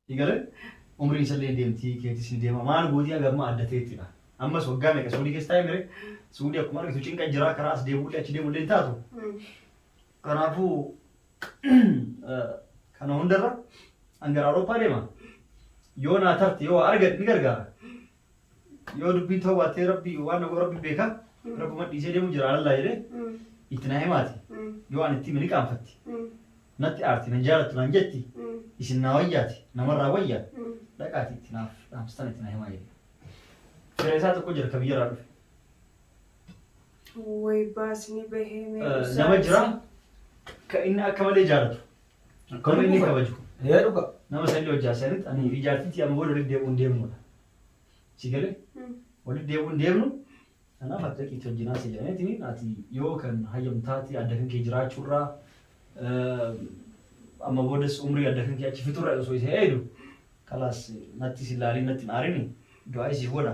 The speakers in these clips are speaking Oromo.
Igale umriin isallee ni deemti keetis ni deema maal gootii aga ammaa adda ta'ettidha ammas waggaa meeqa suudii keessa taa'e mire suudii akkuma argitu cinqa jira karaa as deemuullee achi deemuullee hin taatu kanaafuu kana hundarra an gara Awurooppaa deema yoo naa tarte yoo argadhe ni gargaara Yoo dubbiin ta'uu baattee rabbi waan na godhu rabbi beeka. Rabbuma dhiisee deemu jira alallaa jedhee Mm. itti na himaati. Mm. Yoo ani itti hime ni qaanfatti. Mm. Natti aarti nan jaalattu naan jetti. Mm. Isin naa wayyaati namarraa wayya. Mm. Dhaqaati itti naaf dhaamsistan itti na himaa jedhe. Fira isaa tokko jira ka biyyarraa dhufe. Way baasni bahee mee Eh, Nama jira ka inni akka malee jaalatu. Akkuma inni kabaju. Ee dhuga. Nama salli hojjaa sanitti ani fi jaartitti amma booda walitti deebi'uun deemnudha. Si galee? Walitti deebi'uun deemnu kanaaf akka itti hojjinaa si jedhaneetiin ati yoo kan hayyam taate adda kan kee jiraachuurraa amma boodas umrii adda kan kee achi fixurra osoo isa eedu kalaas natti si laalii natti hin aarini du'aa isii godha.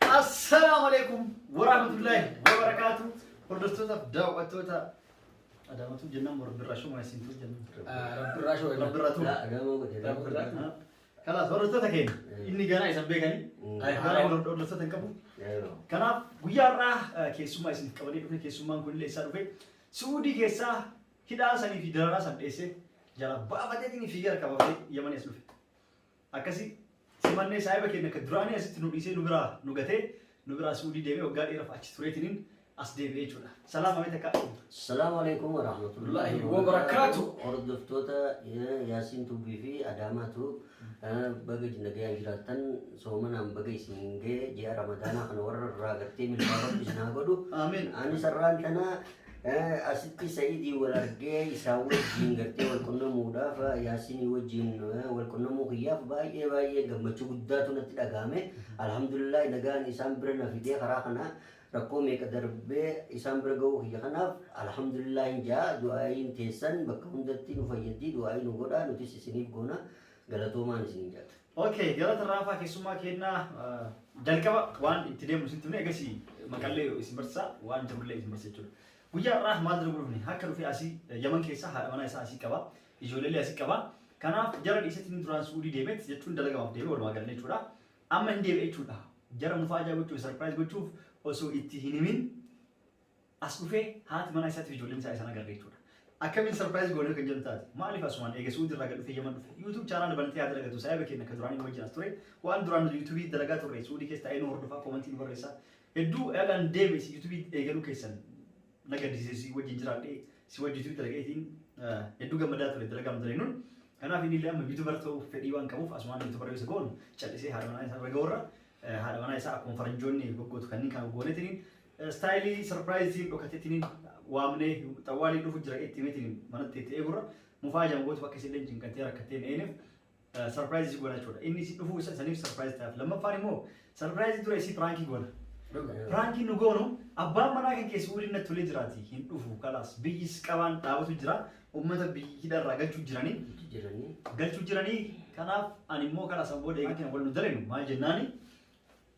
Assalaamu alaikum warahmatullahi wabarakaatu. Hordoftootaaf daawwattoota Adaamatu jennaan moo Rabbirraa shuma isintu jennaan. Rabbirraa shoo irra. Rabbirraa tuu. Gamoo godhe. Rabbirraa tuu. Kanaaf hordoftoota keenya inni ganaa isan beekanii ganaa wal hordoftoota hin qabu. Kanaaf guyyaa irraa keessummaa isin qabanii dhufe keessummaan kun illee isaa dhufe Suudii keessaa hidhaa sanii fi dararaa san dheessee jala baafateetiin fiigaa qabamee yamanii as dhufe. Akkasi simannee saahiba keenya ka duraanii asitti nu dhiisee nu biraa nu gatee nu biraa suudii deemee waggaa dheeraaf achi tureetiniin as deebi'ee jechuudha. Salaam amee takka. Salaamu alaikum wa rahmatullahi Wallaahi wa barakaatu. Hordoftoota eh, Yaasiin Tuubii fi Adaamaa Tuub eh, baga nagayaan jiraattan soomanaan baga isin ga'e ji'a Ramadaanaa kana warra irraa gartee milkaa rabbi isin haa godhu. Amiin. Ani sarraan tanaa Eh, Asitti Sa'iidii wal argee isaa wajjin gartee wal qunnamuudhaaf eh, Yaasinii wajjin eh, wal qunnamuu kiyyaaf baay'ee baay'ee gammachuu guddaatu natti dhaga'ame. Alhamdulillah nagaan isaan bira na fidee karaa kana rakkoo meeqa darbee isaan bira ga'uu kiyya kanaaf alhamdulillah hin ja'a du'aayiin teessan bakka hundatti nu fayyaddi du'aayii nu godha nutis isiniif goona galatoomaan isiniin jedha. Ok, galata raafaa keessummaa kennaa jalqaba waan itti deemu isin tumne egasii maqallee isin barsiisa waan jirullee isin barsiisa jechuudha. Guyyaa har'aa maal dura gurufne akka dhufee asii yaman keessaa haadha manaa isaa asii qaba ijoolleellee asii qaba kanaaf jara dhiisetti inni duraan suudii deemet jechuun dalagamaaf deeme walumaa galee jechuudha. Amma hin deebi'e jechuudha. Jara mufaa ajaa gochuuf sarpiraayiz gochuuf osoo itti hin himin As dhufee haati manaa isaatiif ijoolleen isaa isaan agarre jechuudha. Akkamiin sarpiraayiz goonee kan jedhu taate maaliif asumaan eega suudii irraa gad dhufee yaman dhufe yuutuub chaanaala banatee haa dalagatu saayiba keenya akka duraan inni wajjin as ture waan duraan nuti yuutuubii dalagaa turre suudii keessa taa'ee nu hordofaa koomantii nu barreessaa hedduu eegaan deeme si yuutuubii eegaluu keessan na gaddisiise si wajjin jiraadhee si wajjin yuutuubii dalagaeetiin hedduu gammadaa ture dalagaa nu dalagnuun kanaaf inni illee amma yuutuubar ta'uuf fedhii waan qabuuf asumaan yuutuubar yoo isa goonu callisee haadha manaa isaa irra gahuurra haadha manaa isaa akkuma faranjoonni goggootu kanneen kan goonetiin Istaayilii sarpiraayiziin dhokatitiniin waamnee xawwaalii dhufu jira itti mitiin manatti itti eegurra mufaa jaan gootu bakka isin leenjiin kan ta'e rakkatteen eenif sarpiraayizii goona jechuudha. Inni isin dhufuu isa isaniif sarpiraayiz ta'aaf. Lammaffaan immoo sarpiraayizii dura isii piraankii goona. Piraankii nu goonu abbaan manaa kan keessi waliin natti tolee jiraati hin dhufu kalaas biyyis qabaan dhaabatu jira uummata biyyi hidharraa galchuu jiranii jiranii galchuu jiranii kanaaf ani immoo kalaas an booda eegaa kan wal nu dalenu maal jennaanii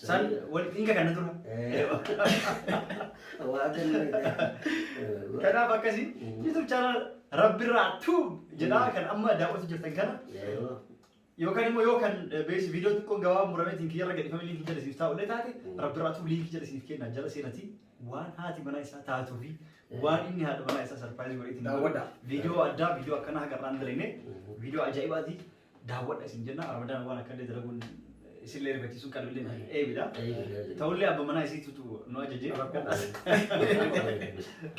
San wal hin kakanna dura. Waa kennu. Kanaaf akkasii YouTube channel Rabbirraa Tube jedhaa kan amma daawwatu jirtan kana yookaan immoo yoo kan beesi viidiyoo xiqqoon gabaabaa murameetiin kiyyarra gadhifame liinkii jala isiniif taa'ullee taate Rabbirraa Tube liinkii jala isiniif kenna jala seenatii waan haati manaa isaa taatuu fi waan inni haadha manaa isaa sarpiraayizii godhee ittiin Daawwadha. viidiyoo addaa viidiyoo akkanaa hagarraan dalagne viidiyoo ajaa'ibaati daawwadha isin jenna ramadaan waan akka illee dalaguun isin illee rifachiisuun qalbi illee hin eebidha. Ta'ullee abba manaa isiitutu nu ajajee rakkadhaas.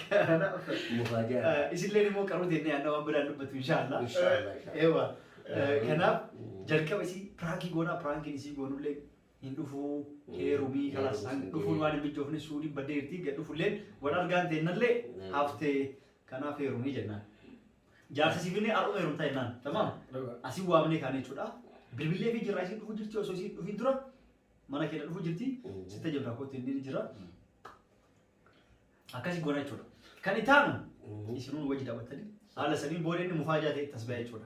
Kanaaf Mufaajaa. isin illee immoo qaruu teennee yaadna waan biraan dubbatu inshaallah. Inshaallah, inshaallah. Ewa. Kanaaf jalqaba isii piraankii goonaa piraankiin isii goonullee hin dhufuu heerumii kalaas Heerumii hin dhufuun geenye. waan hin mijoofne suudiin baddee irtii gad dhufullee wal argaan teennallee Ewa. haftee kanaaf heerumii jennaan. Jaarsa si finnee har'uma heerumtaa jennaan. Tamam. Dhugaa. Asin waamnee kaane jechuudha. Bilbilee fi jirraa isin dhufu jirti osoo isin dhufin dura mana keenya dhufu jirti. Mhm. Sitta jirraa kootti inni ni jira. Akkasi goona jechuudha. Kan itti aanu Mhm. isinuun wajji dhaabbattanii haala saniin booda inni mufaa jaatee itti as ba'e jechuudha.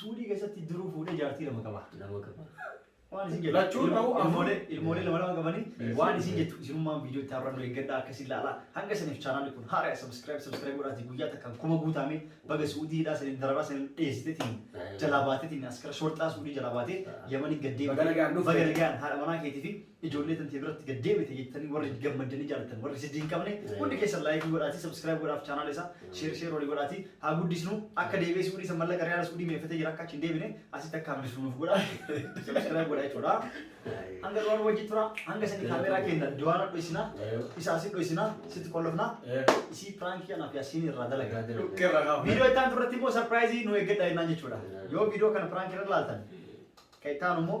Suudii keessatti duruu fuudhee jaartii lama qaba. Lama qaba. Waan isin jettu. Lachuun ta'uu afur. Ilmoolee ilmoolee lama lama qabanii Yes. waan isin jettu isinummaan viidiyoo itti har'annu eeggadhaa akka isin laalaa. Hanga saniif chaanaalli kun haaraya sabiskiraayib sabiskiraayib godhaatii guyyaa takkaan kuma guutaamee baga suudii hidhaa saniin dararaa saniin dheessitetiin jalaa baatetiin askara shorxaa suudii jalaa baatee yamanii gad deemtee Baga nagaan dhufte. baga nagaan haadha manaa keetii fi Ijoollee tantee biratti gad deebite jettanii warri gammaddanii jaalattan warri siddii hin qabne hundi keessan laayikii godhaatii sabskiraayib godhaaf chaanaala isaa sheer sheer walii godhaatii haa guddisnu akka deebi'ee suudii san mallaqa riyaala suudii meeffatee jira akka achi hin deebine asitti akka hambisnu nuuf godha sabskiraayib godhaa jechuudha hanga duraa nu wajjin tura hanga sani kaameeraa keenya duwaana dhoysina isa asi dhoysina sitti qollofna isii piraankii kanaaf yaasiin irraa dalaga Dhukkee irraa kaafna. viidiyoo itti aantu irratti immoo sarpiraayizii nu eeggadha jennaan jechuudha yoo viidiyoo kana piraankii irra laaltan kan itti aanu immoo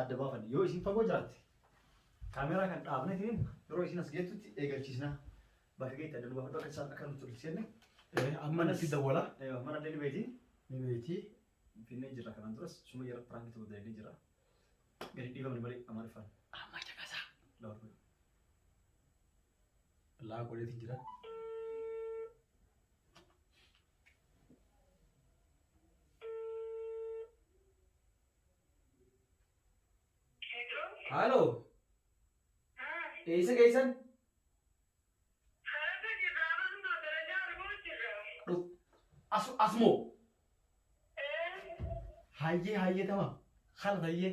adda baafanne yoo isin fagoo jiraatte kaameeraa kan dhaabne ittiin yeroo isin as geettutti eegalchiisna bakka geetti adda nu baafadhu akka isaan akka nutti walitti seenne amma natti dawwala mana illee ni beeti ni beeti finnee jirra kanaan duras suma yeroo piraanki ta'uu dalagnee jirra gadi dhiifamne malee amaariffaan amma caqasaa laafuu laa godheeti jira Haaloo. Eessa geessan? As asmoo. Hayyee hayyee tama. Kana tayyee.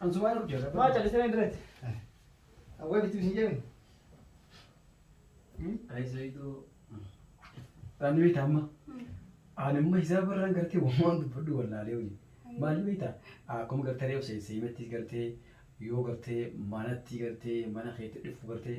An sumaan of jala. Maa callisee na dirreetti. Awwaa bitti bishin jedhan. Ayisoyitu. Ani beekta amma. Ani amma hisaaba irraan gartee waan dubbadhu wallaalee hojii. Maal beekta? Akkuma gartee reefu seensee himattis gartee yoo gartee manatti gartee mana keetti dhufu gartee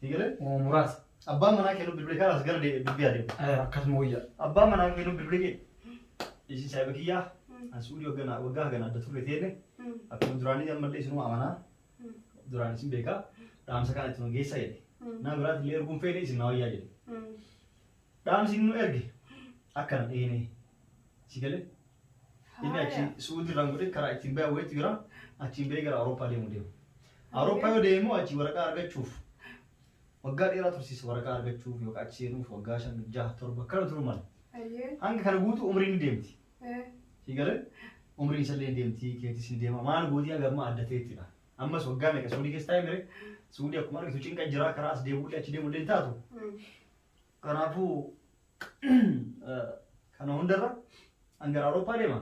Si galee moo muraasa. Abbaan manaa kee nu bilbilee kanas gara deebi'e dubbii adeemu. Eh, Akkasuma wayya. Abbaan manaa kee nu bilbilee kee. Isin saayiba kiyyaa. An suudii waggaa waggaa hagana adda turre teene. Akkuma duraanii ammallee isinuma amanaa. Duraan isin beekaa. Dhaamsa kana itti nu geessa jedhe. Nama biraatti illee erguun feene isin na wayyaa jedhe. Dhaamsi inni nu erge akkana dheenee si galee inni achi suudii irraan godhee karaa ittiin ba'e wayiitu jira achiin ba'ee gara Awurooppaa deemu deema. Awurooppaa yoo deemu achi waraqaa argachuuf waggaa dheeraa tursiisa waraqaa argachuuf yookaan achi seenuuf waggaa shan jaha torba kana turuu mala. Hayyee. Hanga kana guutuu umriin ni deemti. Eh. Si galee umriin isallee ni deemti keetis ni deema maal gootii hanga ammaa adda ta'ettidha. Ammas waggaa meeqa suudii keessa taa'ee mire suudii akkuma argitu cinqa jiraa karaa as deemuullee achi deemuullee hin taatu. Mm. Kanaafuu kana hundarra an gara Awurooppaa deema.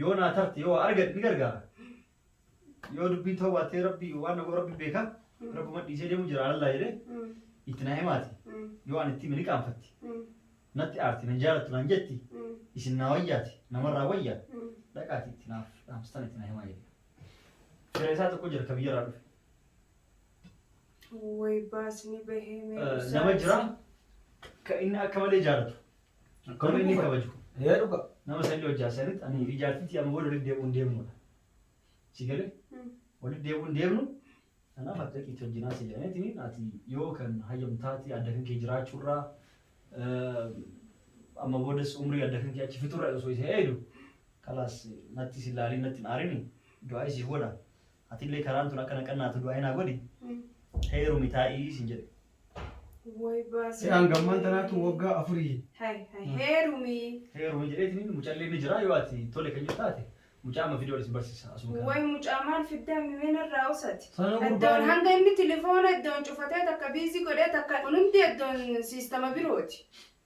Yoo naa tarte yoo argate ni gargaara. Yoo dubbiin ta'uu baattee rabbi waan dhagoo rabbi beeka. Rabbuma dhiisee deemu jira alallaa jedhee itti naa himaati. Yoo an itti hime ni qaanfatti. Natti aarti nan jaalattu naan jetti. Isin naa wayyaati namarraa wayya. Dhaqaati itti naaf dhaamstan itti naa himaa jedhe. Fira isaa tokko jira ka biyyarraa dhufe. Way baasni bahee mee Eh, ibsaa nama jira ibsi. ka inni akka malee jaalatu nama inni kabaju Ee dhuga. nama salli hojjaa sanitti ani fi jaartitti amma booda walitti deebi'uun deemnudha si galee Mm. walitti deebi'uun deemnu kanaaf akka itti hojjinaa si jedhaniitiin ati yoo kan hayyamtaati adda kan kee jiraachuurraa eh, amma boodas umrii adda kan kee achi fixurra osoo isa eedu kalaas natti si laalii natti hin aarini du'aa isii godha Atillee karaan tun akka na qannaatu du'aa naa godhi. Heerumi taa'ii siin jedhe. Way baasii. Se'aan gammaan tanaatu waggaa afurii. Hay hay heerumi. Heerumi jedheetiin mucallee ni jira yoo ati tole kan jiru taate mucaa amma fidee ol isin barsiisa asuma kana. Way mucaa maal fiddaa mimeen irraa usati. Sana Iddoon gurbaan hanga inni tilifoona iddoon cufatee takka biizii godhee takka kun hundi iddoon siistama birooti.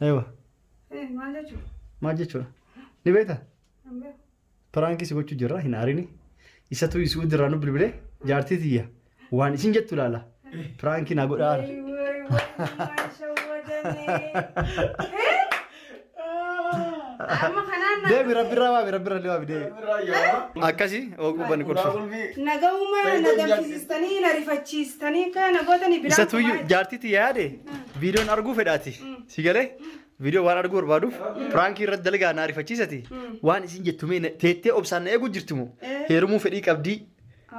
Ewa. Maal jechuudha? Maal jechuudha? Ni beekta? Piraankii si gochuu jirra hin aarini. Isatu isuu dirraa nu bilbilee jaartii tiyya waan isin jettu ilaala. Piraankii na godhaa. Amma kanaan na- Deebi rabbi irraa waabi rabbi irraa waabi deebi. Akkasi oguu bani qorsu. Nagahuma na gamsisiistanii na rifachiistanii akka na gootanii biraan Isatu iyyuu jaartii tiyya yaade viidiyoon arguu fedhaati si galee viidiyoo waan arguu barbaaduuf piraankii irratti dalagaa na arifachiisati waan isin jettu mee na- teettee obsaan na eeguu jirti moo heerumuu fedhii qabdii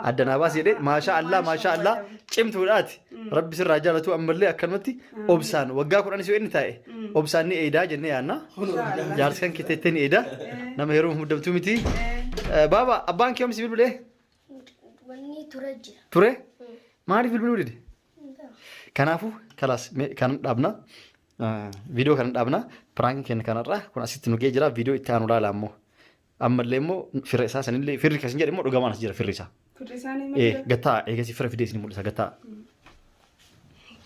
adda naa baasi jedhee maashaa allaa maashaa allaa cimtuudhaati rabbi sirraa jaalatu ammallee akkanumatti obsaan waggaa kudhanis yoo inni taa'e obsaan ni eedaa jennee yaanna jaarsi kan kee teettee ni eedaa nama heerumuuf muddamtuu miti Eh, baaba abbaan kee omsi bilbilee Wanni ture jira. ture maaliif bilbiluu dide Kanaafuu kalaas mee kan dhaabna. Viidiyoo kan dhaabna. Piraankiin keenya kanarraa kun asitti nu ga'ee jira. Viidiyoo itti aanu laala ammoo. Ammallee immoo firra isaa sanillee firri kasin jedhe immoo dhugamaan as jira firri isaa. Firri isaanii Eh, malee. gattaa eegasii firra fidee isin mul'isa gattaa.